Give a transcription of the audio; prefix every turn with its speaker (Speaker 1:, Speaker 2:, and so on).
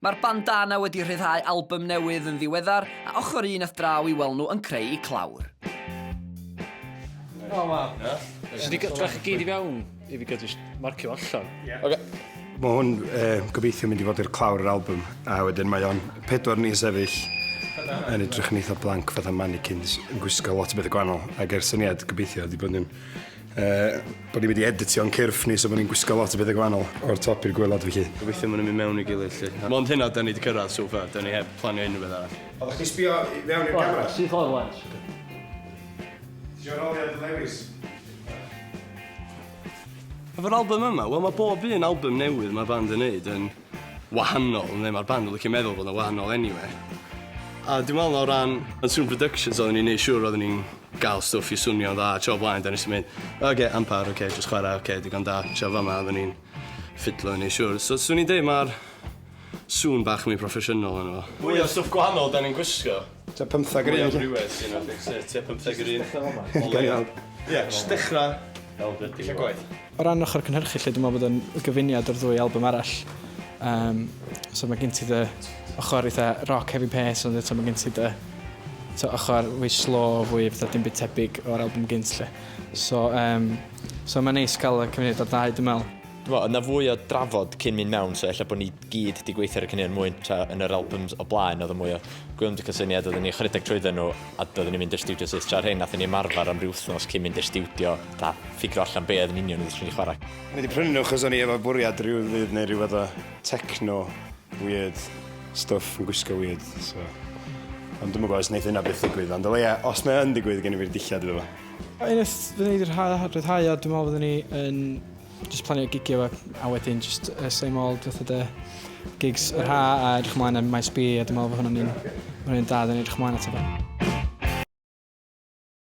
Speaker 1: Mae'r bandana wedi rhyddhau albym newydd yn ddiweddar, a ochr un a'th draw i weld nhw yn creu eu clawr. O
Speaker 2: waw. Nes i gael trach
Speaker 3: i gyd i fewn i fi gael just marcio allan. Oce. Mae
Speaker 4: hwn uh, gobeithio mynd i fod i'r clawr yr album, a wedyn mae o'n pedwar ni sefyll yn edrych yn eitha blank fatha mannequins yn gwisgo lot o bethau gwahanol, ac er syniad gobeithio wedi bod yn Uh, bod ni wedi editio'n cyrff ni, so bod ni'n gwisgo lot o bethau gwahanol o'r top i'r gwylod felly. Gobeithio maen nhw'n mynd mewn i
Speaker 5: gilydd lly. Mond hynna da ni wedi cyrraedd so far, da ni heb planio unrhyw beth arall. Oeddech chdi sbio i fewn
Speaker 4: i'r camera? Sy'n ffordd rwan.
Speaker 3: Ti'n
Speaker 4: roliad
Speaker 5: lewis. Efo'r album yma, wel mae bob un album newydd mae band yn neud yn wahanol neu mae'r band yn licio meddwl bod o'n wahanol eniwe. A dwi'n meddwl o ran yn Sŵn Productions oedden ni'n neud siŵr oedden ni'n gael stwff i swnio'n dda tro blaen da nes i mynd oce okay, ampar oce okay, jyst chwarae oce okay, digon da tro fama oedden ni'n ffidlo i neud siŵr so swn i'n deud mae'r sŵn bach mwy proffesiynol yno fo. Mwy o stwff gwahanol da ni'n gwisgo. Tua pymthag yr un.
Speaker 4: Mwy o sy'n o'r
Speaker 5: fix, tua pymthag yr un. Gael iawn. Ie,
Speaker 4: jyst dechrau.
Speaker 5: Fel beth yw'r gwaith. O ran ochr cynhyrchu
Speaker 2: lle, dwi'n meddwl bod yn gyfuniad o'r ddwy album arall. Um, so mae gen ti dy ochr eitha rock heavy pace, ond eto mae gen ti dy to ochr fwy slow, fwy fatha dim byd tebyg o'r album gynt lle. So, um, so mae'n neis cael y cymuned o'r ddau, dwi'n meddwl. Dwi'n meddwl, yna fwy o
Speaker 6: drafod cyn mynd mewn, so efallai bod ni gyd 'di gweithio ar y caneuon mwyn tra yn yr albums o blaen oedd yn mwy o gwylmd y cysyniad oedden ni ychydig trwydden nhw a doedden ni'n mynd i'r studio syth tra'r hyn nathon ni ymarfer am ryw wythnos cyn mynd i'r studio ta ffigro allan be oedd yn union oedden ni'n chwarae. O'n i wedi prynu nhw achos o'n
Speaker 4: i efo bwriad rhyw ddydd neu rhyw fath o techno weird stuff yn gwisgo weird so ond dwi'n gwybod os wneud hynna beth digwydd ond o leia os mae yn digwydd gen i fi'r dillad iddo fo. Unwaith fyddwn
Speaker 2: ni wedi rhyddhau a dwi'n meddwl fyddwn ni yn Jyst planio gigio a, a wedyn jyst uh, same old fath o de gigs yr ha a edrych ymlaen am Maes B a dwi'n meddwl bod hwnna'n un, hwnna'n un da, dwi'n edrych ymlaen at o.